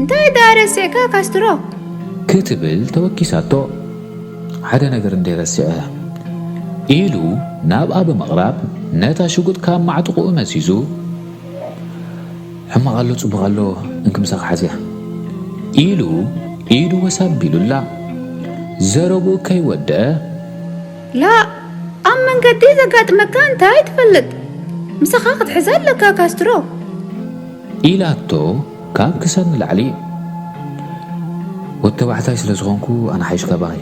እንታይ ደኣ ረሲዕካ ካስትሮ? ክትብል ተወኪሳቶ። ሓደ ነገር እንድየ ረሲዐ። ኢሉ ናብኣ ብምቕራብ ነታ ሽጉጥ ካብ ማዕጥቑኡ መዚዙ፣ ሕማቕ ኣሎ ጽቡቕ ኣሎ እንኪ ምሳኺ ሓዝያ። ኢሉ ኢዱ ወስ ኣቢሉላ ዘረብኡ ከይወደኣ። ላእ! ኣብ መንገዲ ዘጋጥመካ እንታይ ትፈልጥ? ምሳኻ ክትሕዛ ኣለካ ካስትሮ። ኢላቶ ካብ ክሳድ ንላዕሊ ወድተባዕታይ ስለ ዝኾንኩ ኣነ ሓይሽ ካባኺ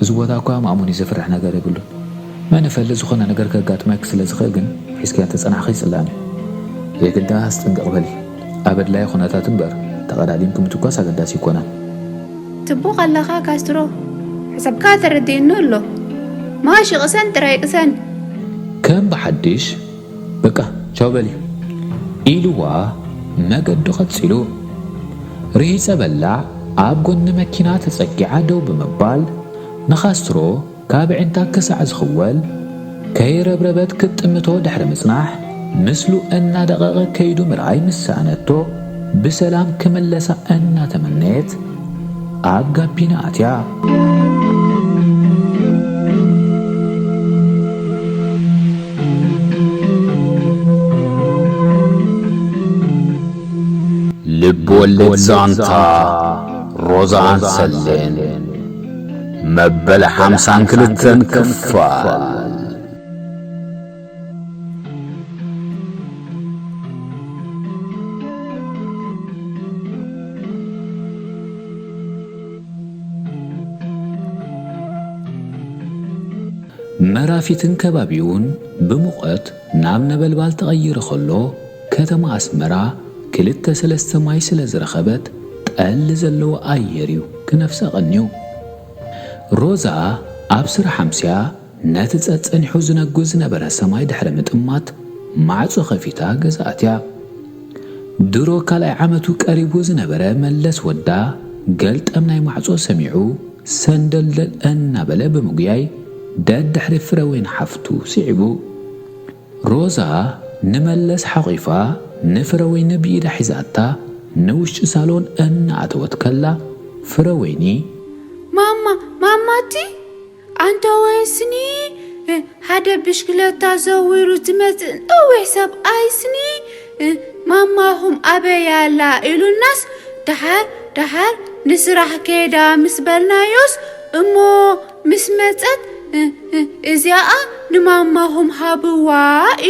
እዚ ቦታ እኳ ማእሙኒ ዘፍርሕ ነገር የብሉን መን ይፈልጥ ዝኾነ ነገር ከጋጥመኪ ስለ ዝኽእል ግን ሒዝክያ እንተጸናሕኺ ጽላም እዩ የግዳስ ጥንቅቕ በሊ ኣብ ኣድላዪ ኩነታት እምበር ተቐዳዲምኪ ምትኳስ ኣገዳሲ ኣይኮነን ጽቡቅ ኣለኻ ካስትሮ ሓሳብካ ተረዲኡኒ ኣሎ ማሽ ይቅሰን ጥራይ ይቅሰን። ከም ብሓድሽ በቃ ቻው በሊ ኢሉዋ መገዱ ቀጺሉ። ርሂጸበላ ኣብ ጎኒ መኪና ተጸጊዓ ደው ብምባል ንካስትሮ ካብ ኣዒንታ ክሳዕ ዝኽወል ከይረብረበት ክትጥምቶ ድሕሪ ምጽናሕ ምስሉ እናደቐቐ ከይዱ ምርኣይ ምስ ሰኣነቶ ብሰላም ክምለሳ እናተመነየት ኣብ ጋቢና ኣትያ ልብወለድ ዛንታ ሮዛን ሰሌን መበል ሓምሳን ክልተን ክፋል መራፊትን ከባቢኡን ብሙቐት ናብ ነበልባል ተቐይሩ ከሎ፣ ከተማ ኣስመራ ክልተ ሰለስተ ማይ ስለ ዝረኸበት ጠሊ ዘለዎ ኣየር'ዩ ክነፍሰ ቀንዩ። ሮዛ ኣብ ስራሕ ኣምስያ፣ ነቲ ጸጸኒሑ ዝነጉድ ዝነበረ ሰማይ ድሕሪ ምጥማት ማዕጾ ከፊታ ገዛ ኣትያ። ድሮ ካልኣይ ዓመቱ ቀሪቡ ዝነበረ መለስ ወዳ ገልጠም ናይ ማዕጾ ሰሚዑ ሰንደልደል እናበለ ብምጉያይ ደድሕሪ ፍረወይኒ ሓፍቱ ስዒቡ። ሮዛ ንመለስ ሓቚፋ ንፍረወይኒ ብኢዳ ሒዛታ ንውሽጢ ሳሎን እናኣተወት ከላ ፍረወይኒ። ማማ! ማማ! እቲ። ኣንታ ወይስኒ ሓደ ብሽክለታ ዘዊሩ ዝመጽእ ነዊሕ ሰብኣይስኒ ማማኹም ኣበይ ኣላ ኢሉናስ ደሓር ደሓር ንስራሕ ከይዳ ምስ በልናዮስ እሞ ምስ መጸት እዚኣ ንማማኹም ሃብዋ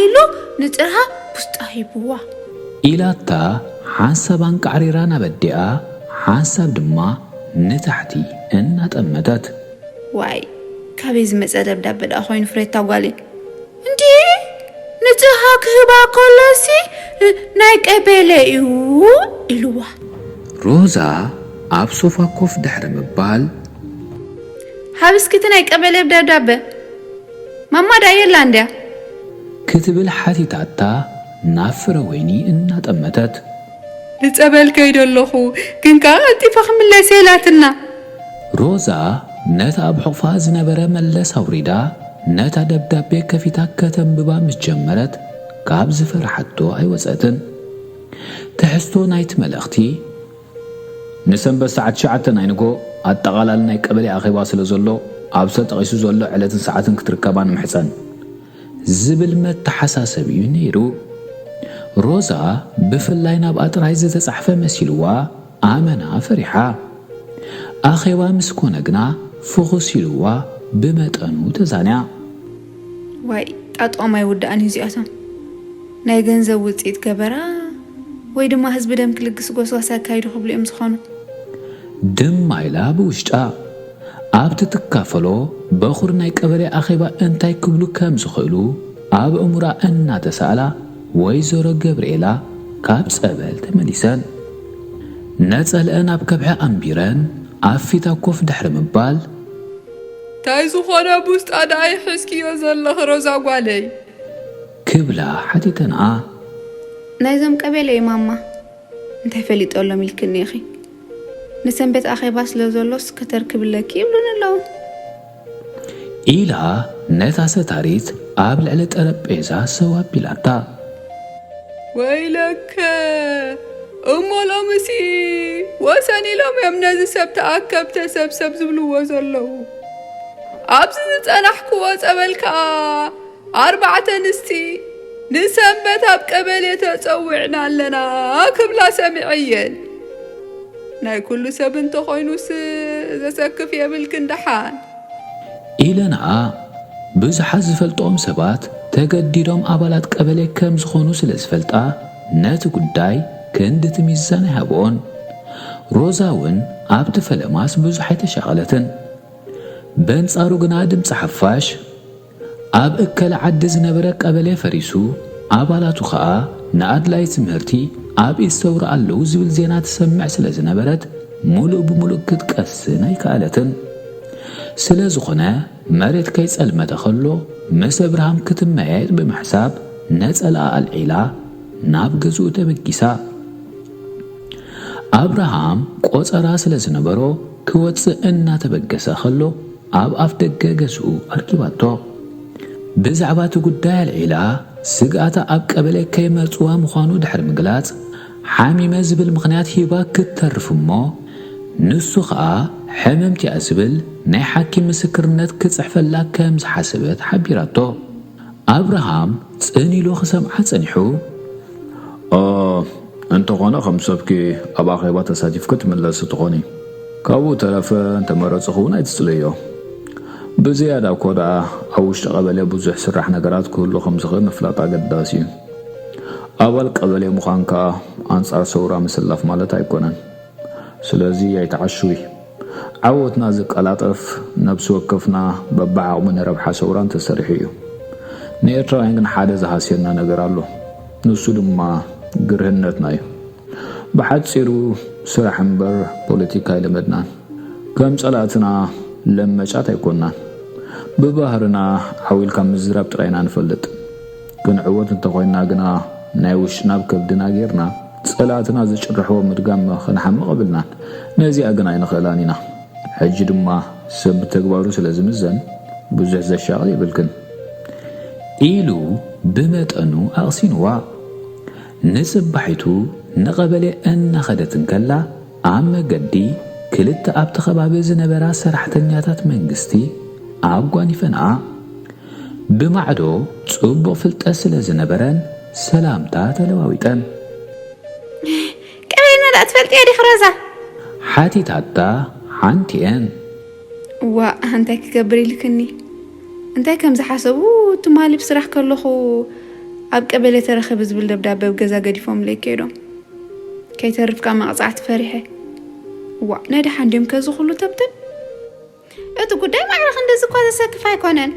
ኢሉ ንጽርሃ ቡስጣ ሂብዋ። ኢላታ ሓንሳብ ኣንቃዕሪራ ናብ ኣዲኣ ሓንሳብ ድማ ንታሕቲ እናጠመተት። ዋይ ካበይ ዝመጸ ደብዳበ ድኣ ኮይኑ ፍሬታ ጓለይ። እንድዒ ንጽሃ ክህባ ከሎሲ ናይ ቀቤሌ እዩ ኢልዋ። ሮዛ ኣብ ሶፋ ኮፍ ድሕሪ ምባል። ሃብ እስኪ እቲ ናይ ቀቤሌ ደብዳበ ማማ ድኣ የላን ድያ? ክትብል ሓቲታታ ናብ ፍረወይኒ እናጠመተት። ንጸበል ከይደ ኣለኹ ግን ከኣ ቀልጢፈ ክምለስ'የ ኢላትና። ሮዛ ነቲ ኣብ ሕቝፋ ዝነበረ መለስ ኣውሪዳ ነታ ደብዳቤ ከፊታ ከተንብባ ምስ ጀመረት ካብ ዝፈርሓቶ ኣይወጸትን። ትሕዝቶ ናይቲ መልእኽቲ። ንሰንበት ሰዓት ትሽዓተ ናይ ንግሆ ኣጠቓላሊ ናይ ቀበሌ ኣኼባ ስለ ዘሎ፣ ኣብ ተጠቒሱ ዘሎ ዕለትን ሰዓትን ክትርከባ ንምሕጸን። ዝብል መተሓሳሰቢ'ዩ ነይሩ። ሮዛ ብፍላይ ናብኣ ጥራይ ዝተጻሕፈ መሲልዋ ኣመና ፈሪሓ። ኣኼባ ምስ ኮነ ግና ፍኹስ ኢሉዋ ብመጠኑ ተዛንያ። ዋይ ጣጥኦም ኣይውዳእን እዩ እዚኣቶም ናይ ገንዘብ ውጽኢት ገበራ ወይ ድማ ህዝቢ ደም ክልግስ ጎስጓስ ኣካይዱ ክብሉ እዮም ዝኾኑ። ድማ ኢላ ብውሽጣ። ኣብቲ ትካፈሎ በኹር ናይ ቀበሌ ኣኼባ እንታይ ክብሉ ከም ዝኽእሉ ኣብ ኣእምሮኣ እናተሳእላ ወይዘሮ ገብርኤላ ካብ ፀበል ተመሊሰን ነፀለኣን ኣብ ከብሒ ኣንቢረን ኣብ ፊታ ኮፍ ድሕሪ ምባል። ታይ ዝኾነ ኣብ ውሽጣ ደኣ ይሕዝክዮ ዘለኺ ሮዛ ጓለይ? ክብላ ሓቲተንኣ። ናይዞም ቀቤሌ እዩ ማማ። እንታይ ፈሊጠሎም ኢልክኒ ኢኺ ንሰንበት ኣኼባ ስለ ዘሎስ ከተርክብለኪ ይብሉኒ ኣለዉ። ኢላ ነታ ሰታሪት ኣብ ልዕሊ ጠረጴዛ ሰው ኣቢላታ። ወይለከ! እሞ ሎምሲ ወሰን ኢሎም እዮም ነዚ ሰብ ተኣከብ ተሰብሰብ ዝብልዎ ዘለዉ። ኣብዚ ዝጸናሕክዎ ጸበል ከኣ ኣርባዕተ ኣንስቲ ንሰንበት ኣብ ቀበሌ ተጸዊዕና ኣለና ክብላ ሰሚዐየን። ናይ ኩሉ ሰብ እንተኾይኑስ ዘሰክፍ የብልክን ደሓን። ኢለንኣ፣ ብዙሓት ዝፈልጥኦም ሰባት ተገዲዶም ኣባላት ቀበሌ ከም ዝኾኑ ስለ ዝፈልጣ ነቲ ጉዳይ ክንድቲ ሚዛን ኣይሃብኦን። ሮዛ'ውን ኣብቲ ፈለማስ ብዙሕ ኣይተሻቐለትን። በንጻሩ ግና ድምጺ ሓፋሽ፣ ኣብ እከለ ዓዲ ዝነበረ ቀበሌ ፈሪሱ፣ ኣባላቱ ከኣ ንኣድላዪ ትምህርቲ ኣብ ኢድሰውራ ኣለዉ ዝብል ዜና ትሰምዕ ስለ ዝነበረት ምሉእ ብምሉእ ክትቀስን ኣይከኣለትን። ስለ ዝኾነ መሬት ከይጸልመተ ከሎ ምስ እብርሃም ክትመያየጥ ብምሕሳብ ነጸላኣ ኣልዒላ ናብ ገዝኡ ተበጊሳ። ኣብርሃም ቆጸራ ስለ ዝነበሮ ክወጽእ እናተበገሰ ከሎ፣ ኣብ ኣፍደገ ገዝኡ ኣርኪባቶ ብዛዕባ'ቲ ጉዳይ ኣልዒላ ስግኣታ ኣብ ቀበሌ ከይመርጽዋ ምዃኑ ድሕሪ ምግላጽ ሓሚመ ዝብል ምኽንያት ሂባ ክትተርፍ'ሞ ንሱ ከኣ ሕምምቲ'ያ ዝብል ናይ ሓኪም ምስክርነት ክጽሕፈላ ከም ዝሓሰበት ሓቢራቶ። ኣብርሃም ጽን ኢሉ ክሰምዓ ጸኒሑ፣ ኦህ፣ እንተኾነ ከም ሰብኪ ኣብ ኣኼባ ተሳቲፍኪ ትምለሲ ትኾኒ። ካብኡ እተረፈ እንተ መረጽኺውን ኣይትጽለይዮ። ብዝያዳ እኮ ደኣ ኣብ ውሽጢ ቀበሌ ብዙሕ ስራሕ ነገራት ክህሉ ከም ዝኽእል ምፍላጥ ኣገዳሲ እዩ። ኣባል ቀበሌ ምዃን ከኣ ኣንጻር ሰውራ ምስላፍ ማለት ኣይኮነን። ስለዚ ኣይትዓሽዊ። ዓወትና ዝቀላጠፍ ነብሲ ወከፍና በብዓቕሙ ንረብሓ ሰውራ እንተሰሪሑ እዩ። ንኤርትራውያን ግን ሓደ ዝሃስየና ነገር ኣሎ። ንሱ ድማ ግርህነትና እዩ። ብሓጺሩ ስራሕ እምበር ፖለቲካ ኣይለመድናን። ከም ጸላእትና ለመጫት ኣይኮናን። ብባህርና ዓው ኢልካ ምዝራብ ጥራይ ኢና ንፈልጥ። ክንዕወት እንተኾይንና ግና ናይ ውሽጥና ኣብ ከብድና ጌርና ጸላእትና ዝጭርሕዎ ምድጋም ክንሓምቕ የብልናን። ነዚኣ ግን ኣይንኽእላን ኢና። ሕጂ ድማ ሰብ ብተግባሩ ስለ ዝምዘን ብዙሕ ዘሻቕል የብልክን። ኢሉ ብመጠኑ ኣቕሲንዋ። ንጽባሒቱ ንቐበሌ እናኸደት እንከላ ኣብ መገዲ ክልተ ኣብቲ ከባቢ ዝነበራ ሰራሕተኛታት መንግስቲ ኣጓኒፈንኣ። ብማዕዶ ጽቡቕ ፍልጠት ስለ ዝነበረን ሰላምታ ተለዋዊጠን። ቀበይና ደኣ ትፈልጥያ ዲኺ ሮዛ? ሓቲታታ ሓንቲኤን። እዋእ እንታይ ክገብር ኢልክኒ፣ እንታይ ከም ዝሓሰቡ ትማሊ ብስራሕ ከለኹ ኣብ ቀበሌ ተረኺቢ ዝብል ደብዳበ ኣብ ገዛ ገዲፎምለይ ከይዶም ከይተርፍ ካብ መቕጻዕቲ ፈሪሐ። እዋእ ናይ ደሓን ድዮም ከዚ ኩሉ ተብተብ? እቲ ጉዳይ ማዕረ ክንድዚ እኳ ዘሰክፍ ኣይኮነን።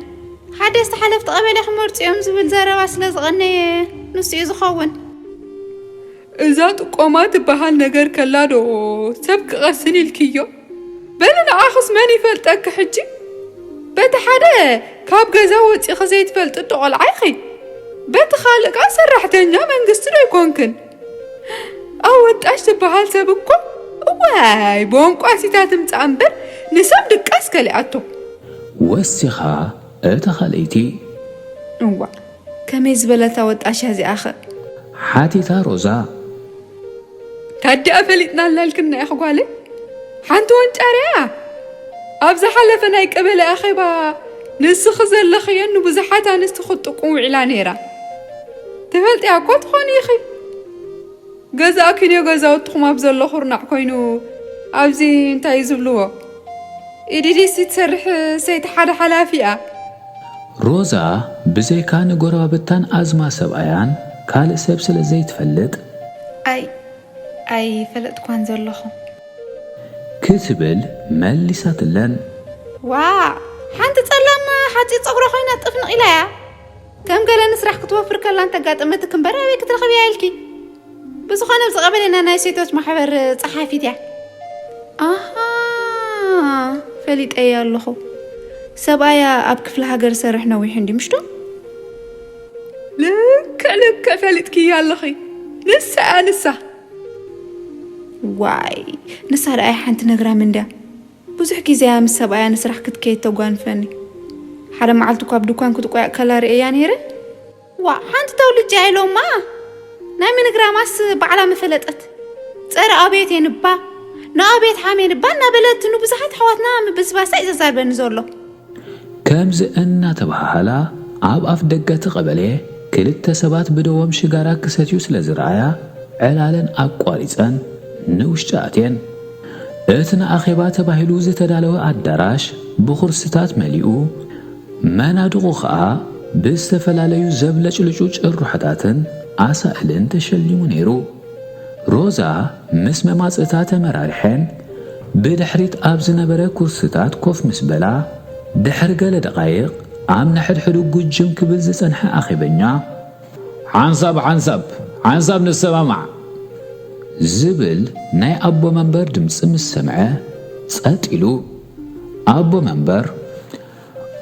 ሓደስቲ ሓለፍቲ ቀበሌ ክመርጹ እዮም ዝብል ዘረባ ስለ ዝቐነየ ንሱ እዩ ዝኸውን። እዛ ጥቆማ ትበሃል ነገር ከላ ዶ ሰብ ክቐስን ኢልክዮ? በሊ ንዓኽስ መን ይፈልጠኪ ሕጂ? በቲ ሓደ ካብ ገዛ ወጺኺ ዘይትፈልጢ እቶ ቆልዓ ኢኺ፣ በቲ ካልእ ከኣ ሰራሕተኛ መንግስቲ ዶ ኣይኮንክን? ኣወጣሽ ዝበሃል ሰብ እኮ እዋይ ቦንቋሲታ ትምጻእ እምበር ንሰብ ድቃስ ከሊኣቶ ወሲኻ እታ ኻልኣይቲ እዋእ ከመይ ዝበለት ኣወጣሽ እያ እዚኣ ኸ ሓቲታ ሮዛ ታዲኣ ፈሊጥና ኣላልክና እያ ጓለይ ሓንቲ ወንጫር እያ ኣብ ዝሓለፈ ናይ ቀበሌ ኣኼባ ንስኺ ዘለኽየን ንብዙሓት ኣንስቲ ክትጥቁም ውዒላ ነይራ ትፈልጥያ እኮ ትኾኒ ኢኺ ገዛእኪንዮ ገዛውትኹም ኣብ ዘሎ ኩርናዕ ኮይኑ ኣብዚ እንታይ ዝብልዎ ኢዲዲሲ ትሰርሕ ሰይቲ ሓደ ሓላፊ እያ ሮዛ ብዘይካ ንጎረባብታን ኣዝማ ሰብኣያን ካልእ ሰብ ስለ ዘይትፈልጥ። ኣይ ኣይፈለጥኳን ዘለኹ። ክትብል መሊሳትለን። ዋእ ሓንቲ ጸላም ሓጺር ጸጉራ ኮይና ጥፍንቕ ኢላ እያ። ከም ገለ ንስራሕ ክትወፍር ከላ እንተጋጠመትኪ እምበር ኣበይ ክትረኽብያ ኢልኪ። ብዝኾነ ኣብዚ ቀበሌና ናይ ሴቶች ማሕበር ጸሓፊት እያ። ኣሃ ፈሊጠዮ ኣለኹ ሰብኣያ ኣብ ክፍለ ሃገር ዝሰርሕ ነዊሑ እንዲ ምሽዶ ልክዕ ልክዕ ፈሊጥክያ ኣለኺ ንሳ እያ ንሳ ዋይ ንሳ ደኣ ሓንቲ ነግራም እንድያ ብዙሕ ግዜ'ያ ምስ ሰብኣያ ንስራሕ ክትከይድ ተጓንፈኒ። ሓደ መዓልቲ'ኳ ኣብ ድኳን ክትቆያእ ከላ ርእየያ ነይረ። ዋእ! ሓንቲ ተውልጭ'ያ ኢሎማ! ናይ ምንግራማስ ባዕላ ምፈለጠት። ጸረ ኣብዮት እየን'ባ፣ ንኣብዮት ሓምየን'ባ እናበለት ንብዙሓት ኣሕዋትና ምብስባሳ'ዩ ዘዛርበኒ ዘሎ። ከምዚ እናተበሃሃላ ኣብ ኣፍ ደገ'ቲ ቀበሌ፣ ክልተ ሰባት ብደዎም ሽጋራ ክሰትዩ ስለ ዝረኣያ፣ ዕላለን ኣቋሪጸን ንውሽጢ ኣትየን። እቲ ንኣኼባ ተባሂሉ ዝተዳለወ ኣዳራሽ ብኹርሲታት መሊኡ፣ መናድቑ ከኣ ብዝተፈላለዩ ዘብለጭልጩ ጭርሖታትን ኣሳእልን ተሸሊሙ ነይሩ። ሮዛ ምስ መማጽእታ ተመራርሐን ብድሕሪት ኣብ ዝነበረ ኩርሲታት ኮፍ ምስ በላ፣ ድሕሪ ገለ ደቓይቕ ኣብ ነሕድሕዱ ጉጅም ክብል ዝጸንሐ ኣኼበኛ፣ ሓንሳብ ሓንሳብ ሓንሳብ ንሰማማዕ! ዝብል ናይ ኣቦ መንበር ድምጺ ምስ ሰምዐ ጸጥ ኢሉ፣ ኣቦ መንበር፣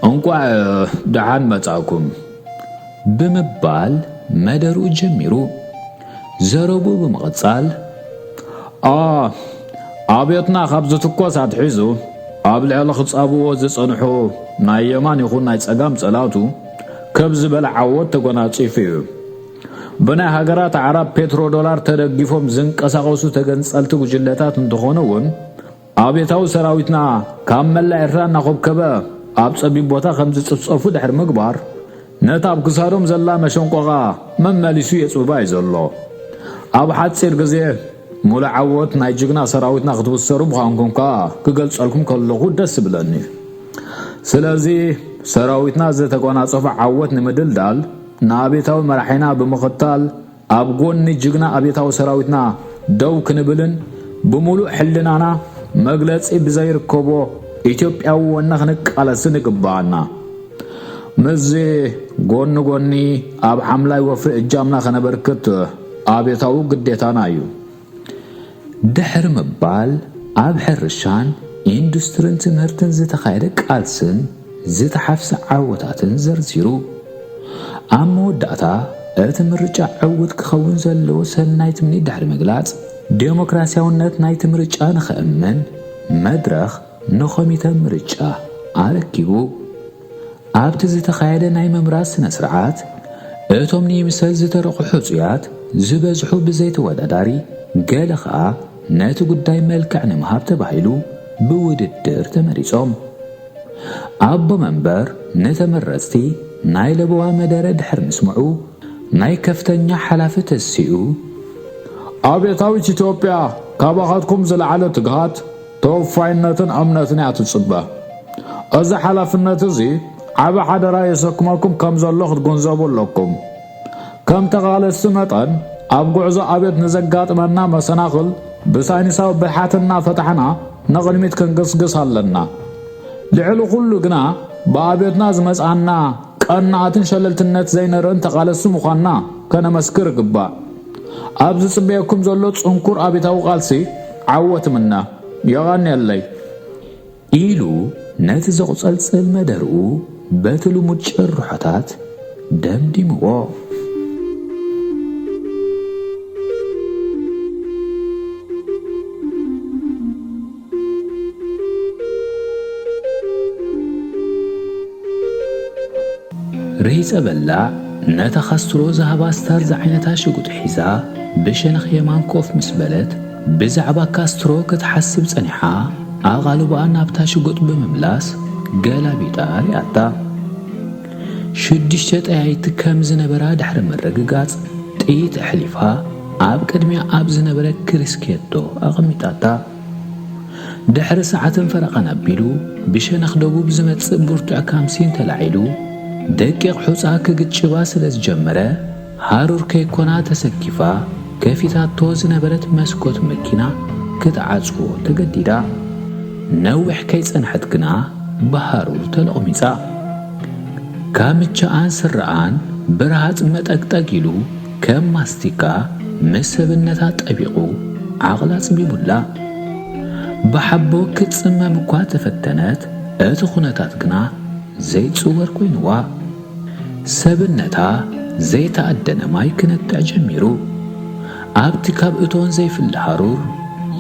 እንቋዕ ደሓን መጻእኩም ብምባል መደርኡ ጀሚሩ ዘረብኡ ብምቕጻል ኣብዮትና ካብ ዝትኮስ ኣትሒዙ ኣብ ልዕሊ ክጻብዎ ዝጸንሑ ናይ የማን ይኹን ናይ ጸጋም ጸላቱ ከብ ዝበለ ዓወት ተጎናጺፉ እዩ። ብናይ ሃገራት ኣዕራብ ፔትሮ ዶላር ተደጊፎም ዝንቀሳቐሱ ተገንጸልቲ ጉጅለታት እንተኾኑ እውን ኣብዮታዊ ሰራዊትና ካብ መላእ ኤርትራ እናኾብከበ ኣብ ጸቢብ ቦታ ከም ዝጽፍጸፉ ድሕሪ ምግባር፣ ነታ ኣብ ክሳዶም ዘላ መሸንቆቓ መመሊሱ የጽብባ እዩ ዘሎ። ኣብ ሓጺር ግዜ ምሉእ ዓወት ናይ ጅግና ሰራዊትና ክትብሰሩ ምዃንኩም ከኣ ክገልጸልኩም ከለኹ ደስ ይብለኒ። ስለዚ ሰራዊትና ዝተጎናጸፎ ዓወት ንምድልዳል ንኣብዮታዊ መራሒና ብምኽታል ኣብ ጎኒ ጅግና ኣብዮታዊ ሰራዊትና ደው ክንብልን ብሙሉእ ሕልናና መግለጺ ብዘይርከቦ ኢትዮጵያዊ ወነ ክንቃለስን ይግበኣና። ምስዚ ጎኒ ጎኒ ኣብ ሓምላይ ወፍሪ እጃምና ከነበርክት ኣብዮታዊ ግዴታና እዩ። ድሕሪ ምባል ኣብ ሕርሻን ኢንዱስትሪን ትምህርትን ዝተኻየደ ቃልስን ዝተሓፍሰ ዓወታትን ዘርዚሩ። ኣብ መወዳእታ እቲ ምርጫ ዕውት ክኸውን ዘለዎ ሰናይ ትምኒት ድሕሪ ምግላጽ፣ ደሞክራስያውነት ናይቲ ምርጫ ንኸእመን መድረኽ ንኮሚተ ምርጫ ኣረኪቡ። ኣብቲ ዝተኻየደ ናይ ምምራጽ ስነ-ስርዓት፣ እቶም ንይምሰል ዝተረቑ ሕጹያት ዝበዝሑ ብዘይ ተወዳዳሪ፣ ገለ ከኣ ነቲ ጉዳይ መልክዕ ንምሃብ ተባሂሉ ብውድድር ተመሪጾም። ኣቦ መንበር ንተመረጽቲ ናይ ለበዋ መደረ ድሕሪ ምስምዑ፣ ናይ ከፍተኛ ሓላፊ ተሲኡ፣ ኣብዮታዊት ኢትዮጵያ ካባኻትኩም ዝለዓለ ትግሃት፣ ተወፋይነትን እምነትን እያ ትጽበ። እዚ ሓላፍነት እዚ ዓቢ ሓደራ የሰክመኩም ከም ዘሎ ክትግንዘቡ ኣለኩም። ከም ተቓለስቲ መጠን ኣብ ጉዕዞ ኣብዮት ንዘጋጥመና መሰናኽል ብሳይንሳዊ ብልሓት እናፈታሕና ንቕድሚት ክንግስግስ ኣለና። ልዕሊ ኩሉ ግና ብኣብዮትና ዝመጽኣና ቀናኣትን ሸለልትነት ዘይንርእን ተቓለስቲ ምዃንና ከነመስክር ይግባእ። ኣብ ዝጽበየኩም ዘሎ ጽንኩር ኣብዮታዊ ቃልሲ ዓወት እምነ። የቐንየለይ! ኢሉ ነቲ ዘቝጸልጽል መደርኡ በቲ ልሙድ ጭርሖታት ደምዲምዎ። ርሂጸ በላዕ ነታ ካስትሮ ዝሃባ ስታር ዝዓይነታ ሽጉጥ ሒዛ ብሸነኽ የማን ኮፍ ምስ በለት ብዛዕባ ካስትሮ ክትሓስብ ጸኒሓ ኣቓልቦኣ ናብታ ሽጉጥ ብምምላስ ገላቢጣ ርኣታ። ሽዱሽተ ጠያይቲ ከም ዝነበራ ድሕሪ ምርግጋጽ ጥይት ኣሕሊፋ ኣብ ቅድሚያ ኣብ ዝነበረ ክሪስኬቶ ኣቐሚጣታ። ድሕሪ ሰዓትን ፈረቓን ኣቢሉ ብሸነኽ ደቡብ ዝመጽእ ብርቱዕ ካምሲን ተላዒሉ ደቂቕ ሑጻ ክግጭባ ስለ ዝጀመረ ሃሩር ከይኮና ተሰኪፋ ከፊታቶ ዝነበረት መስኮት መኪና ክትዓጽዎ ተገዲዳ። ነዊሕ ከይጸንሐት ግና ብሃሩር ተሎቕሚጻ። ካምቻኣን ስረኣን ብረሃጽ መጠግጠግ ኢሉ፣ ከም ማስቲካ ምስ ሰብነታ ጠቢቑ ዓቕላ ኣጽቢቡላ። ብሓቦ ክትጽመም እኳ ተፈተነት፣ እቲ ኩነታት ግና ዘይጽወር ኮይኑዋ። ሰብነታ ዘይተኣደነ ማይ ክነቅዕ ጀሚሩ። ኣብቲ ካብ እቶን ዘይፍለ ሃሩር፣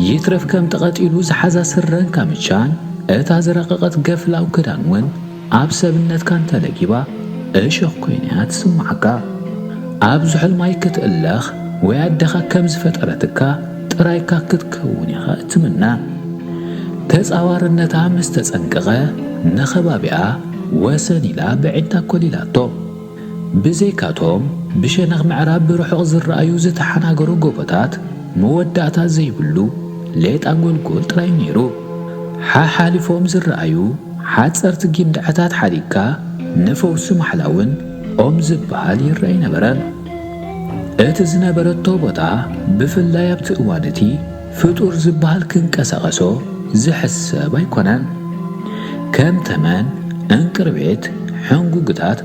ይትረፍ ከም ተቐጢሉ ዝሓዛ ስረን ካምቻን፣ እታ ዝረቐቐት ገፍላው ክዳን'ውን፣ ኣብ ሰብነትካ እንተ ለጊባ እሾኽ ኮይና እያ ትስምዓካ። ኣብ ዝሑል ማይ ክትእለኽ ወይ ኣደኻ ከም ዝፈጠረትካ ጥራይካ ክትከውን ኢኻ እትምነ። ተጻዋርነታ ምስ ተጸንቀቐ ንኸባቢኣ ወሰን ኢላ በዒንታ ኮሊላቶ። ብዘይካ'ቶም ብሸነኽ ምዕራብ ብርሑቕ ዝረኣዩ ዝተሓናገሩ ጎቦታት፣ መወዳእታ ዘይብሉ ሌጣ ጎልጎል ጥራይ'ዩ ነይሩ። ሓሓሊፎም ዝረኣዩ ሓጸርቲ ጊንዳዐታት ሓዲግካ ንፈውሲ ማሕላ'ውን ኦም ዝበሃል ይርኣ ኣይነበረን። እቲ ዝነበረቶ ቦታ ብፍላይ ኣብቲ እዋን እቲ፣ ፍጡር ዝበሃል ክንቀሳቐሶ ዝሕሰብ ኣይኮነን። ከም ተመን፣ ዕንቅርቢት፣ ሕንጉግታት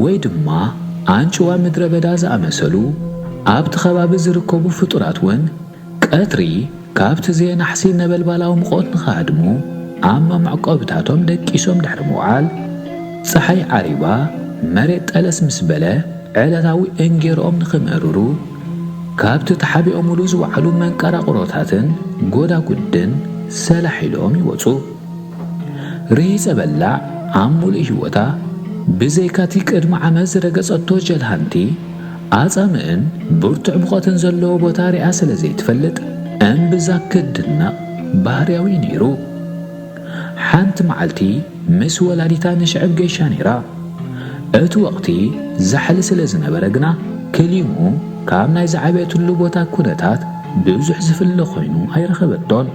ወይ ድማ ኣንጭዋ ምድረ በዳ ዝኣመሰሉ ኣብቲ ከባቢ ዝርከቡ ፍጡራት እውን ቀትሪ ካብቲ ዘየናሕሲ ነበልባላዊ ምቖት ንኽሃድሙ ኣብ መመዕቆብታቶም ደቂሶም ድሕሪ ምውዓል ጸሓይ ዓሪባ መሬት ጠለስ ምስ በለ ዕለታዊ እንጌርኦም ንኽምእርሩ ካብቲ ተሓቢኦምሉ ዝወዓሉ መንቀራቕሮታትን ጎዳጉድን ሰላሕ ኢሎም ይወጹ። ርሂጸ በላዕ ኣብ ምሉእ ህይወታ ብዘይካቲ ቅድሚ ዓመት ዝረገጸቶ ጀልሃንቲ ኣጻምእን ብርቱዕ ሙቐትን ዘለዎ ቦታ ሪኣ ስለ ዘይትፈልጥ እምብዛ ክትድነቕ ባህርያዊ'ዩ ነይሩ። ሓንቲ መዓልቲ ምስ ወላዲታ ንሽዕብ ገይሻ ነይራ። እቲ ወቕቲ ዛሕሊ ስለ ዝነበረ ግና ክሊምኡ ካብ ናይ ዝዓበየትሉ ቦታ ኩነታት ብዙሕ ዝፍለ ኮይኑ ኣይረኸበቶን።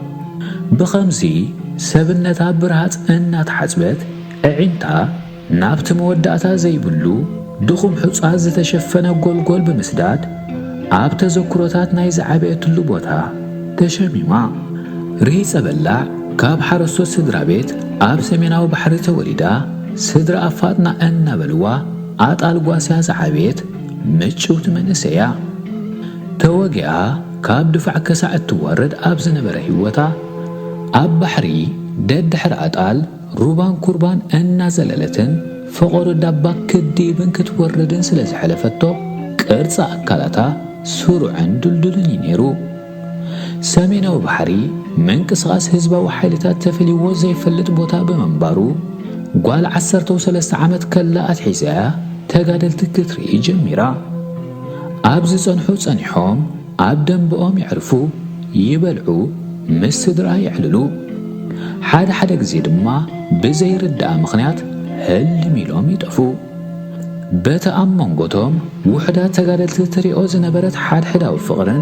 ብኸምዚ ሰብነታ ብርሃጽ እናተሓጽበት ኣዒንታ ናብቲ መወዳእታ ዘይብሉ ድኹም ሑጻ ዝተሸፈነ ጎልጎል ብምስዳድ፣ ኣብ ተዘክሮታት ናይ ዝዓበየትሉ ቦታ ተሸሚማ። ርሂጸ በላዕ ካብ ሓረስቶት ስድራ ቤት ኣብ ሰሜናዊ ባሕሪ ተወሊዳ ስድራ ኣፋጥና እናበልዋ ኣጣል ጓስያ ዝዓበየት ምጭውቲ መንእሰይ'ያ። ተወጊኣ ካብ ድፋዕ ከሳዕ እትወርድ ኣብ ዝነበረ ህይወታ፣ ኣብ ባሕሪ ደድሕሪ ኣጣል፣ ሩባን ኩርባን እናዘለለትን ፈቖዶ ዳባ ክትድይብን ክትወርድን ስለ ዝሐለፈቶ ቅርጺ ኣካላታ ስሩዕን ድልዱልን እዩ ነይሩ። ሰሜናዊ ባሕሪ ምንቅስቓስ ህዝባዊ ሓይልታት ተፈልይዎ ዘይፈልጥ ቦታ ብምንባሩ ጓል ዓሰርተው ሰለስተ ዓመት ከላ ኣትሒዛ እያ ተጋደልቲ ክትርኢ ጀሚራ። ኣብ ዝጸንሑ ጸኒሖም ኣብ ደምበኦም የዕርፉ፣ ይበልዑ፣ ምስ ስድራ የዕልሉ። ሓደ ሓደ ግዜ ድማ ብዘይርዳእ ምኽንያት ህልም ኢሎም ይጠፍኡ። በቲ ኣብ መንጎ'ቶም ውሑዳት ተጋደልቲ ትርኦ ዝነበረት ሓድሕዳዊ ፍቕርን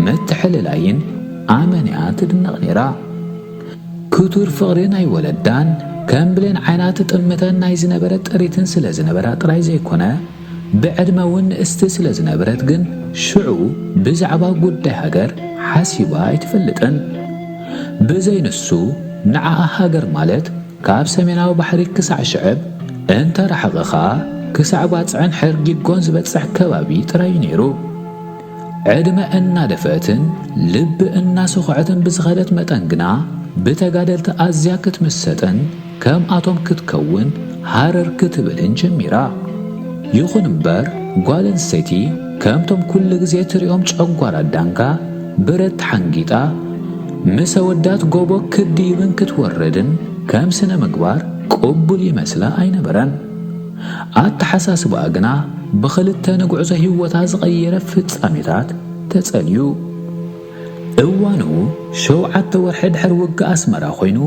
ምትሕልላይን ኣመን'ያ ትድነቕ ነይራ። ክቱር ፍቕሪ ናይ ወለዳን ከም ብሌን ዓይና ትጥምተን ናይ ዝነበረት ጥሪትን ስለ ዝነበራ ጥራይ ዘይኮነ፣ ብዕድመ'ውን ንእስቲ ስለ ዝነበረት ግን ሽዑ ብዛዕባ ጉዳይ ሃገር ሓሲባ ኣይትፈልጥን። ብዘይ ንሱ ንዓኣ ሃገር ማለት ካብ ሰሜናዊ ባሕሪ ክሳዕ ሽዕብ፣ እንተ ረሓቐ ኸኣ ክሳዕ ባጽዕን ሐርጊጎን ዝበጽሕ ከባቢ ጥራይ'ዩ ነይሩ። ዕድመ እናደፍአትን ልቢ እናሰኾዐትን ብዝኸደት መጠን ግና ብተጋደልቲ ኣዝያ ክትምሰጥን፣ ከምኣቶም ክትከውን ሃረር ክትብልን ጀሚራ። ይኹን እምበር ጓል ኣንስተይቲ ከምቶም ኩሉ ግዜ ትሪኦም ጨጓራ ዳንጋ ብረት ተሓንጊጣ ምስ ኣወዳት ጎቦ ክትድይብን ክትወርድን ከም ስነ ምግባር ቅቡል ይመስላ ኣይነበረን። ኣተሓሳስባኣ ግና ብኽልተ ንጉዕዞ ህይወታ ዝቐየረ ፍጻሜታት ተጸልዩ። እዋኑ ሸውዓተ ወርሒ ድሕሪ ውግእ ኣስመራ ኮይኑ፣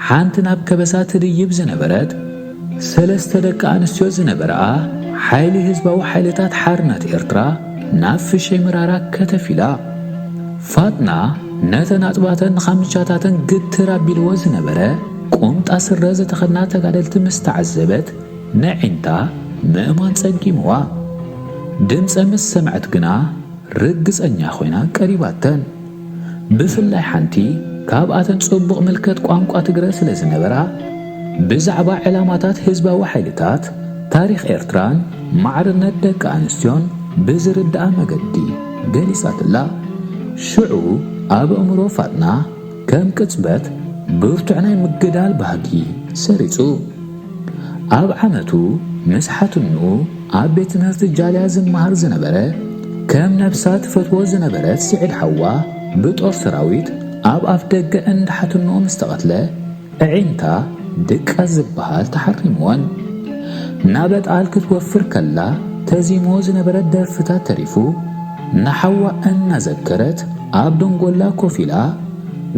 ሓንቲ ናብ ከበሳ ትድይብ ዝነበረት፣ ሰለስተ ደቂ ኣንስትዮ ዝነበርኣ ሓይሊ ህዝባዊ ሓይልታት ሓርነት ኤርትራ ናብ ፍሸይ መራራ ከተፍ ኢላ። ፋጥና ነተን ኣጽባተን ኻምቻታተን ግትር ኣቢልዎ ዝነበረ ቁምጣ ስረ ዝተኸድና ተጋደልቲ ምስ ተዓዘበት ነዒንታ ምእማን ጸጊምዋ። ድምጸን ምስ ሰምዐት ግና፣ ርግጸኛ ኮይና ቀሪባተን። ብፍላይ ሓንቲ ካብኣተን ጽቡቕ ምልከት ቋንቋ ትግረ ስለ ዝነበራ፣ ብዛዕባ ዕላማታት ህዝባዊ ሓይልታት፣ ታሪኽ ኤርትራን ማዕርነት ደቂ ኣንስትዮን ብዝርድኣ መገዲ ገሊጻትላ። ሽዑ ኣብ ኣእምሮ ፋጥና ከም ቅጽበት ብርቱዕ ናይ ምግዳል ባህጊ ሰሪጹ። ኣብ ዓመቱ ምስ ሓትንኡ ኣብ ቤት ትምህርቲ ጃልያ ዝመሃር ዝነበረ ከም ነብሳ ትፈትዎ ዝነበረት ሲዒድ ሓዋ ብጦር ሰራዊት ኣብ ኣፍ ደገ እንዳ ሓትንኡ ምስ ተቐትለ እዒንታ ድቃስ ዝብሃል ተሓሪምወን ናበጣል ክትወፍር ከላ ተዚምዎ ዝነበረ ደርፍታት ተሪፉ ንሓዋ እናዘከረት ኣብ ደንጎላ ኮፍ ኢላ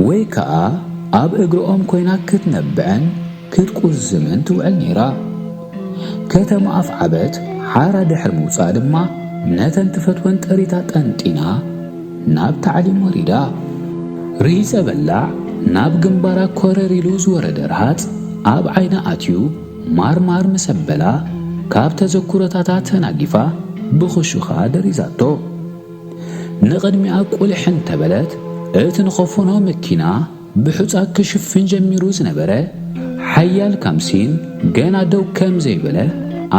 ወይ ከኣ ኣብ እግሪ ኦም ኮይና ክትነብዕን ክትቁዝ ዘመን ትውዕል ነይራ። ከተማ ኣፍዓበት ሓራ ድሕሪ ምውጽኣ ድማ ነተን ትፈትወን ጥሪታ ጠንጢና ናብ ታዕሊም ወሪዳ። ርሂጸ በላዕ ናብ ግንባራ ኮረር ኢሉ ዝወረደ ረሃጽ ኣብ ዓይና ኣትዩ ማርማር ምስ ኣበላ ካብ ተዘኩሮታታ ተናጊፋ ብኽሹኻ ደሪዛቶ። ንቕድሚኣ ቁሊሕ እንተበለት እቲ ንኸፎኖ መኪና ብሑጻ ክሽፍን ጀሚሩ ዝነበረ ሓያል ካምሲን ገና ደው ከም ዘይበለ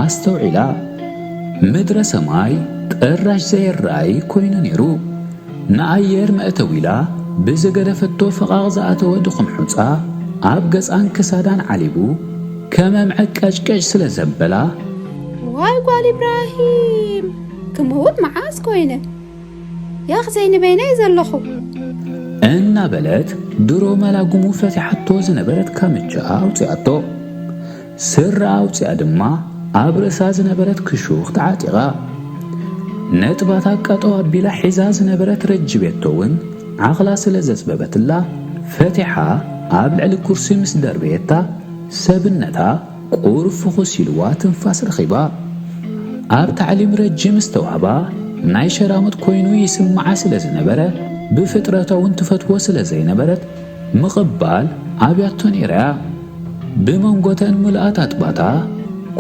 ኣስተውዒላ። ምድረ ሰማይ ጥራሽ ዘየራእይ ኮይኑ ነይሩ። ንኣየር መእተው ኢላ ብዝገደፈቶ ፈቓቕ ዝኣተወ ድኹም ሑጻ ኣብ ገጻን ክሳዳን ዓሊቡ ከመም ዕቀጭቀጭ ስለ ዘበላ፣ እዋይ ጓል ኢብራሂም ክምውት መዓስ ኮይነ። ያኽ ዘይንበይነይ ዘለኹ። እናበለት ድሮ መላጉሙ ፈቲሓቶ ዝነበረት ካምቻ ኣውጺኣቶ። ስረ ኣውጺኣ ድማ ኣብ ርእሳ ዝነበረት ክሹኽ ተዓጢቓ። ነጥባታ ቀጠው ኣቢላ ሒዛ ዝነበረት ረጅቤቶ'ውን ዓቕላ ስለ ዘጽበበትላ ፈቲሓ ኣብ ልዕሊ ኩርሲ ምስ ደርበየታ ሰብነታ ቁሩብ ፍኹስ ኢሉዋ ትንፋስ ረኺባ ኣብ ታዕሊም ረጅም ዝተዋህባ ናይ ሸራሙጥ ኮይኑ ይስምዓ ስለ ዝነበረ ብፍጥረታ'ውን ትፈትዎ ስለ ዘይነበረት ምቕባል ኣብያቶ ነይራ'ያ ብመንጎ'ተን ምሉኣት ኣጥባታ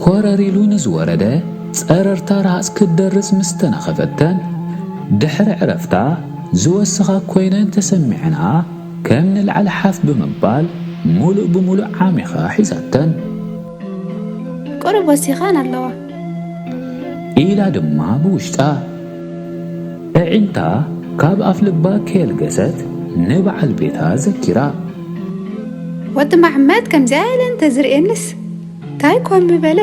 ኮረር ኢሉ ንዝወረደ ጸረርታ ረሃጽ ክትደርጽ ምስ ተናኸፈተን ድሕሪ ዕረፍታ ዝወሰኻ ኮይነን ተሰሚዐንኣ ከም ንላዕሊ ሓፍ ብምባል ምሉእ ብምሉእ ዓሚኻ ሒዛተን። ቁሩብ ወሲኸን ኣለዋ። ኢላ ድማ ብውሽጣ ኣዒንታ ካብ ኣፍልባ ከየልገሰት ንበዓል ቤታ ዘኪራ። ወዲ መሓመድ ከምዚኣ ኢለን እንተዝርእየንስ ታይ ኮን ምበለ።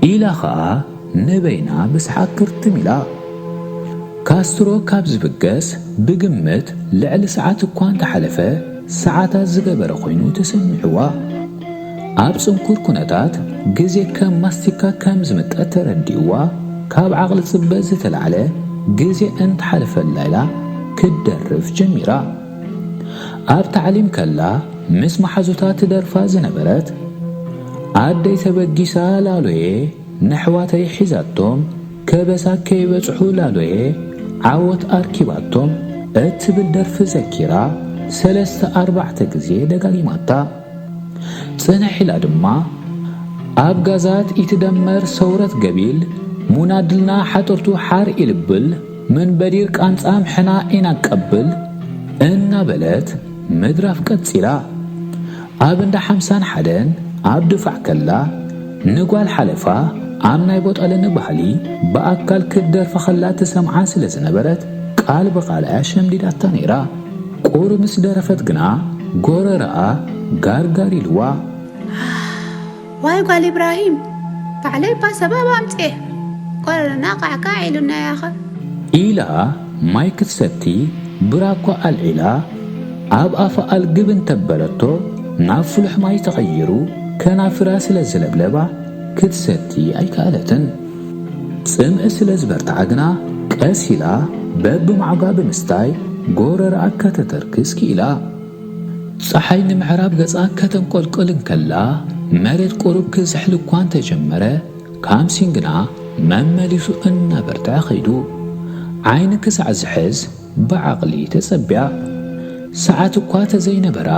ኢላ ኸኣ ንበይና ብሰሓቕ ክርትም ኢላ። ካስትሮ ካብ ዝብገስ ብግምት ልዕሊ ሰዓት እኳ እንተሓለፈ ሰዓታት ዝገበረ ኰይኑ ተሰሚዕዋ። ኣብ ጽንኩር ኵነታት ግዜ ከም ማስቲካ ከም ዝምጠጥ ተረዲእዋ ካብ ዓቕሊ ጽበት ዝተላዕለ ግዜ እንተሓለፈላ ኢላ ክትደርፍ ጀሚራ። ኣብ ታዕሊም ከላ ምስ መሓዙታ ትደርፋ ዝነበረት ኣደይ ተበጊሳ ላሎየ! ነሕዋተይ ሒዛቶም ከበሳ ከይበጽሑ ላሎየ ዓወት ኣርኪባቶም እትብል ደርፊ ዘኪራ ሰለስተ ኣርባዕተ ግዜ ደጋጊማታ። ጽንሕ ኢላ ድማ ኣብ ጋዛት ኢትደመር ሰውረት ገቢል ሙናድልና ሓጥርቱ ሓር ኢልብል ምን በዲር ቃንጻም ሕና ኢናቀብል እናበለት ምድራፍ ቀጺላ። ኣብ እንዳ ሓምሳን ሓደን ኣብ ድፋዕ ከላ ንጓል ሓለፋ ኣብ ናይ ቦጠለኒ ባህሊ ብኣካል ክትደርፋ ከላ ትሰምዓ ስለ ዝነበረት ቃል ብቓል እያ ሸምዲዳታ ነይራ። ቁሪ ምስ ደረፈት ግና ጎረረኣ ጋርጋር ኢልዋ። ዓሕ! ዋይ ጓል ኢብራሂም ባዕለይ እባ ሰበብ ኣምጺኤ ቆረረና ቃዕቃዕ ኢሉናያኸ። ኢላ ማይ ክትሰቲ ብራኳ ኣልዒላ ኣብ ኣፋ ኣልግብ እንተበለቶ ናብ ፍሉሕ ማይ ተቐይሩ ከናፍራ ስለ ዝለብለባ ክትሰቲ ኣይከኣለትን። ጽምኢ ስለ ዝበርትዓ ግና ቀስ ኢላ በብማዕጓ ብምስታይ ጎረርኣ ከተተርክስ ክኢላ። ጸሓይ ንምዕራብ ገጻ ከተንቈልቍል እንከላ፣ መሬት ቁሩብ ክዝሕል እኳ እንተ ጀመረ፣ ካምሲን ግና መመሊሱ እናበርትዐ ከይዱ። ዓይኒ ክሳዕ ዝሕዝ ብዓቕሊ ተጸብያ። ሰዓት እኳ እንተ ዘይነበራ፣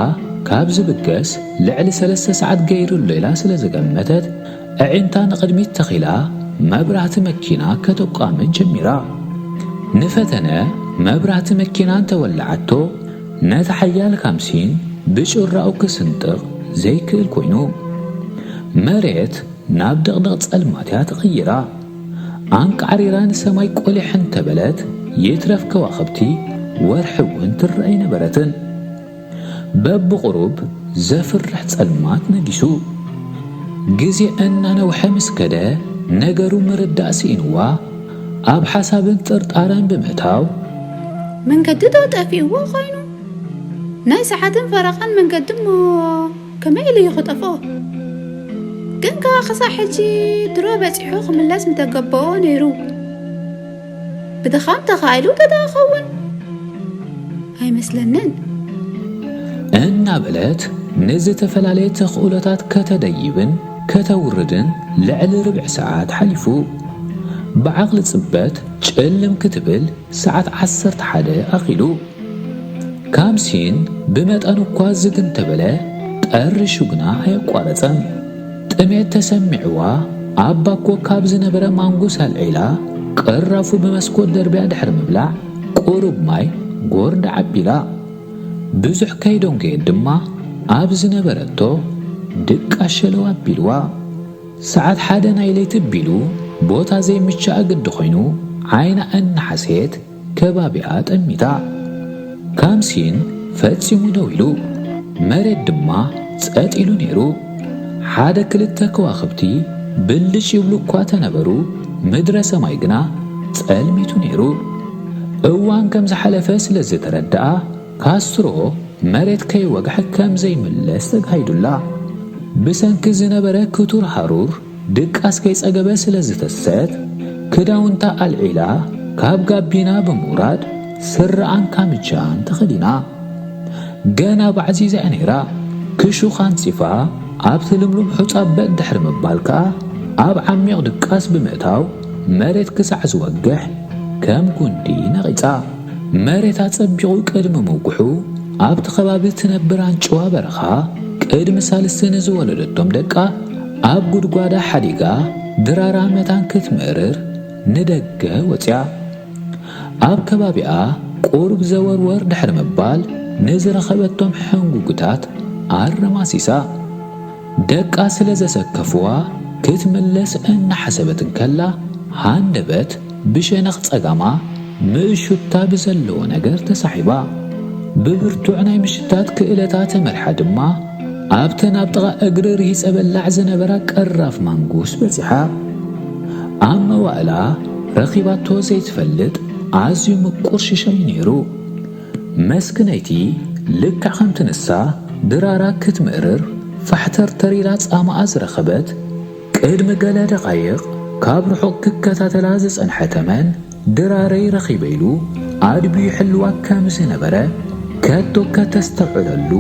ካብ ዝብገስ ልዕሊ ሰለስተ ሰዓት ገይሩ ኣሎ ኢላ ስለ ዝገመተት፣ ኣዒንታ ንቕድሚት ተኺላ መብራህቲ መኪና ከተቋምት ጀሚራ። ንፈተነ መብራህቲ መኪና እንተ ወልዓቶ፣ ነቲ ሓያል ካምሲን ብጩራኡ ክስንጥቕ ዘይክእል ኮይኑ፣ መሬት ናብ ድቕድቕ ጸልማት እያ ተቐይራ። ኣንቃዕሪራ ንሰማይ ቆሊሕ እንተ በለት፣ ይትረፍ ከዋኽብቲ ወርሒ እውን ትርእ ኣይነበረትን። በብቝሩብ ዘፍርሕ ጸልማት ነጊሱ። ግዜ እናነውሐ ምስ ከደ፣ ነገሩ ምርዳእ ስኢንዋ። ኣብ ሓሳብን ጥርጣረን ብምእታው። መንገዲ ዶ ጠፊእዎ ኮይኑ? ናይ ሰዓትን ፈረቓን መንገዲ እሞ ከመይ ኢሉ እዩ ክጠፍኦ? ግን ከኣ ክሳዕ ሕጂ ድሮ በጺሑ ክምለስ ምተገበኦ ነይሩ። ብድኻም ተኻኢሉ እንተደኣ ክኸውን? ኣይመስለንን። እናበለት ንዝተፈላለየ ተኽእሎታት ከተደይብን ከተውርድን ልዕሊ ርብዒ ሰዓት ሓሊፉ። ብዓቕሊ ጽበት ጭልም ክትብል ሰዓት ዓሰርተ ሓደ ኣኺሉ። ካብ ሲን ብመጠኑ እኳ ዝግ እንተበለ ጠሪሹ ግና ኣየቋረጸን። ጥሜት ተሰሚዕዋ ኣብ ባኮ ካብ ዝነበረ ማንጉስ ኣልዒላ ቅራፉ ብመስኮት ደርብያ ድሕሪ ምብላዕ ቁሩብ ማይ ጎርዲ ዓቢላ። ብዙሕ ከይደንጎየት ድማ ኣብ ዝነበረቶ ድቃ ሸለው ኣቢልዋ። ሰዓት ሓደ ናይ ለይቲ ኣቢሉ ቦታ ዘይምችኣ ግዲ ኮይኑ ዓይና እናሓሰየት ከባቢኣ ጠሚታ። ካምሲን ፈጺሙ ደው ኢሉ። መሬት ድማ ጸጥ ኢሉ ነይሩ። ሓደ ክልተ ከዋኽብቲ ብልጭ ይብሉ እኳ ተነበሩ ምድረ ሰማይ ግና ጸልሚቱ ነይሩ። እዋን ከም ዝሓለፈ ስለ ዝተረድኣ ካስትሮ መሬት ከይወግሐ ከም ዘይምለስ ተጋሂዱላ ብሰንኪ ዝነበረ ክቱር ሃሩር ድቃስ ከይጸገበ ስለ ዝተሰት ክዳውንታ ኣልዒላ ካብ ጋቢና ብምውራድ ስረኣን ካምቻን ተኸዲና ገና ባዕዚዛ እያ ነይራ ክሹኽ ኣንጺፋ ኣብቲ ልምሉም ሑጻ በጥ ድሕሪ ምባል ከኣ ኣብ ዓሚቕ ድቃስ ብምእታው መሬት ክሳዕ ዝወግሕ ከም ጉንዲ ነቒጻ መሬት ኣጸቢቑ ቅድሚ ምውግሑ፣ ኣብቲ ከባቢ እትነብር ኣንጭዋ በረኻ፣ ቅድሚ ሳልስቲ ንዝወለደቶም ደቃ ኣብ ጉድጓዳ ሓዲጋ ድራራ መታን ክትምእርር ንደገ ወጺኣ። ኣብ ከባቢኣ ቁሩብ ዘወርወር ድሕሪ ምባል፣ ንዝረኸበቶም ሕንጉግታት ኣረማሲሳ። ደቃ ስለ ዘሰከፍዋ ክትምለስ እናሓሰበት እንከላ ሃንደበት ብሸነኽ ጸጋማ ምእሹታ ብዘለዎ ነገር ተሳሒባ። ብብርቱዕ ናይ ምሽታት ክእለታ ተመሪሓ ድማ ኣብተን ኣብ ጥቓ እግሪ ርሂጸ በላዕ ዝነበራ ቀራፍ ማንጉስ በጺሓ። ኣብ መዋእላ ረኺባቶ ዘይትፈልጥ ኣዝዩ ምቁር ሽሻይ ነይሩ። መስክነይቲ ልክዕ ከምቲ ንሳ ድራራ ክትምእርር ፋሕተርተር ኢላ ጻማኣ ዝረኸበት፣ ቅድሚ ገለ ደቓይቕ ካብ ርሑቕ ክከታተላ ዝጸንሐ ተመን፣ ድራረይ ረኺበ ኢሉ ኣድብዩ ይሕልዋ ከም ዝነበረ ከቶ ከተስተብዕለሉ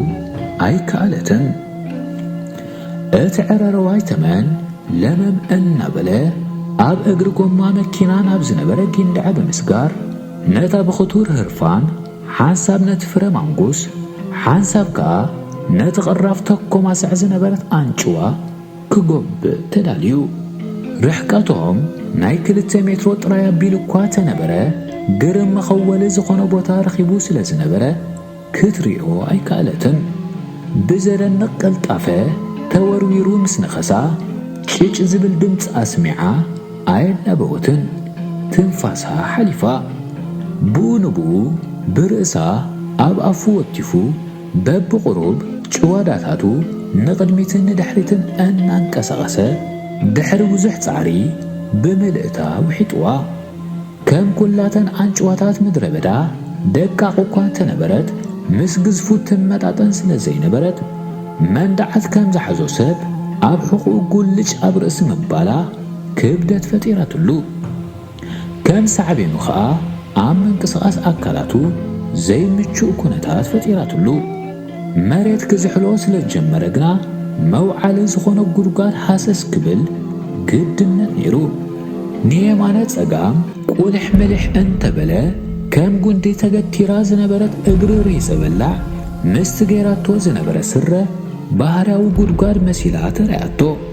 ኣይከኣለትን። እቲ ዕረርዋይ ተመን ለመም እናበለ ኣብ እግሪ ጎማ መኪና ናብ ዝነበረ ጊንዳዐ ብምስጋር፣ ነታ ብኽቱር ህርፋን ሓንሳብ ነቲ ፍረ ማንጉስ ሓንሳብ ከኣ ነቲ ቅራፍ ተኮማስዕ ዝነበረት ኣንጭዋ ክጎብእ ተዳልዩ። ርሕቀቶም ናይ ክልተ ሜትሮ ጥራይ ኣቢሉ'ኳ ተነበረ ግርም መኸወሊ ዝኾኖ ቦታ ረኺቡ ስለ ዝነበረ፣ ክትሪኦ ኣይከኣለትን። ብዘደንቕ ቅልጣፈ ተወርዊሩ ምስ ነኸሳ፣ ጭጭ ዝብል ድምጺ ኣስሚዓ ኣየናበወትን። ትንፋሳ ሓሊፋ። ብኡ ንብኡ ብርእሳ ኣብ ኣፉ ወቲፉ በብቑሩብ ጭዋዳታቱ ንቕድሚትን ንድሕሪትን እናንቀሳቐሰ ድሕሪ ብዙሕ ጻዕሪ ብምልእታ ውሒጡዋ። ከም ኵላተን ኣንጭዋታት ምድረ በዳ ደቃቕ እኳ እንተ ነበረት፣ ምስ ግዝፉ እትመጣጠን ስለ ዘይነበረት፣ መንድዓት ከም ዝሓዞ ሰብ ኣብ ሕቝኡ ጕልጭ ኣብ ርእሲ ምባላ ክብደት ፈጢራትሉ። ከም ሳዕቤኑ ኸኣ ኣብ ምንቅስቓስ ኣካላቱ ዘይምቹእ ኵነታት ፈጢራትሉ። መሬት ክዝሕሎ ስለ ዝጀመረ ግና መውዓሊ ዝኾኖ ጉድጓድ ሃሰስ ክብል ግድነት ነይሩ። ንየማነ ጸጋም ቁልሕ ምልሕ እንተበለ ከም ጉንዲ ተገቲራ ዝነበረት እግሪ ሪዘ በላዕ ምስቲ ገይራቶ ዝነበረ ስረ ባህርያዊ ጉድጓድ መሲላ ተራእያቶ።